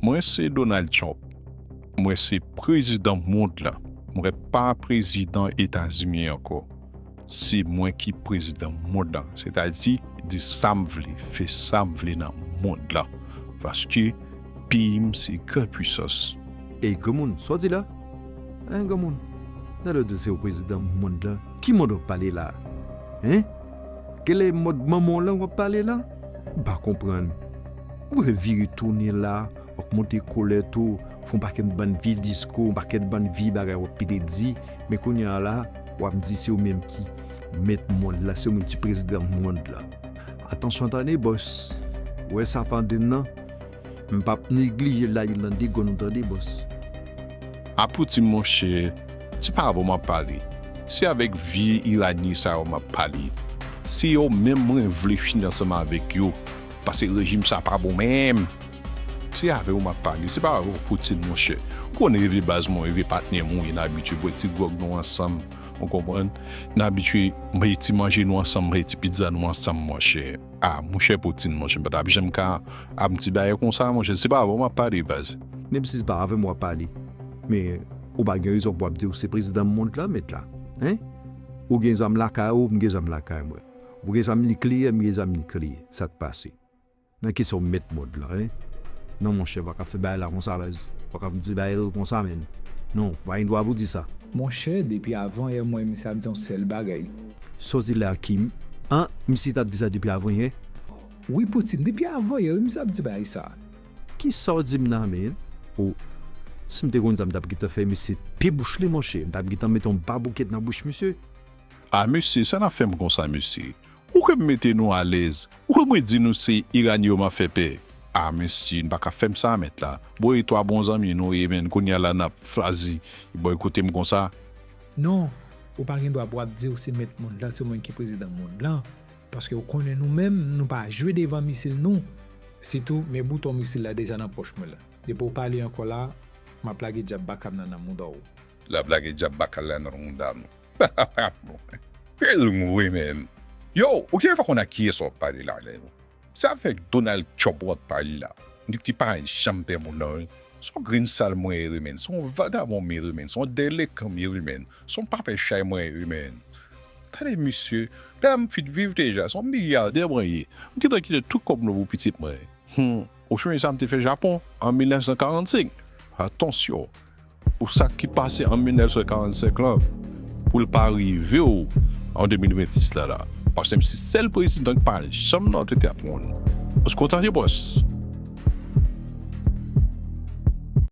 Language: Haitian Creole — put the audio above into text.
Mwen se Donald Trump mwen se prezidan mond la mwen pa prezidan etazimi ankò se mwen ki prezidan mond la sètadi di sam vle fè sam vle nan mond la paske peyim se gran pwisans. Ey granmoun sa w di la hein granmoun nan lè w di se w prezidan mond la ki mond wap pale la hein gèlè mond manman w lan wap pale la m pa konprann. Ou pa fè vire tounen la, wap monte kolèt ou, fè yon pakèt bann vye diskou, yon pakèt bann vye bagay wap pede di, men kounye a la wap di se ou menm ki mèt mond la, se ou menm ki prezidan mond la. Atansyon tande bòs, ou wè sa pandem nan, m pap neglije la Irlande gòn ou tande bòs. A Poutine monchè, se pa avè w map pale, se avèk vye Iranyen sa yo map pale, se yo menm mwen vle fini ansanm avèk yo. Pase rejim sa pa bon menm. Se avew map pale se pa avèw poutine monchè ou konn reve baz mwen reve patnèm ou ye na abitye bwè ti gròg nou ansanm ou konprann na abitye manje ti manje nou ansanm manje ti pizza nou ansanm monchè a monchè poutine monchè mpa tap janm ka avm ti bagay konsa monchè se pa avèw map pale baz. Menm si se pa avèm wap pale men ou pa gen rezon pou wap di ou se prezidan mond lan met la hein ou gen zam lakay ou mgen zam lakay mwen. Bgy sa mnli kliyè bgy sa mnli kliyè sak pase nan kisa ou met mod lan hein non monchè paka fè bagay la konsa alèz paka vin di bagay yo konsa menn non pa gen dwa pou di sa. Monchè depi avan yè mwen misye ap di yon sèl bagay. Soti la Kim an misye tap di sa depi avan yè. Wi poutine depi avan yè wi misye ap di bagay sa. Kisaw dim la menn oh sim te konn sa mtap gentan fè misye pe bouch li monchè mtap gentan met yon baboukèt nan bouch misye. Ah mesye sa nap fèm konsa mesye ou kwè m mete nou alèz ou kwè mwen di nou se Iranie yo map fè pè ah mesye nou paka fèm sa mèt la bon e 3 bon zanmi nou ye menn kounya la nap chwazi boykote m konsa. Non ou pa gen dwa pou wap diw se mèt mond lan se ou menm ki prezidan mond lan paske ou konnen nou menm nou pa jwe devan misil nou sitou men bouton misil la deja nan pòch mwen la depi ou pale ankò la map lage djab bakam nan nan moudòw. Lap lage djab bakal la nan moudam. Film vre menn. Yow ou genlè pa konn ak kiyès wap pale la menn. Se avèk Donald Trump wap pale la. Dipti pa janm pè moun nan wi. Son grenn sal mwen ye wi menn. Son vagabon mye wi menn. Son delekan mye wi menn. Son papè chay mwen ye wi menn. Tande misye. Pèm m fin viv deja. Son milyadè mwen ye. M gentan kite tout kòb mwen pou pitit mwen. Humm. Ou sonje sa m te fè Japon an 1945. Atansyon. Pou sa ki pase an 1945 lan, pou l pa rive w an 2026 la la. Paske m se sèl prezidan ki pa janm nan antre teyat moun. Paske w tande bòs.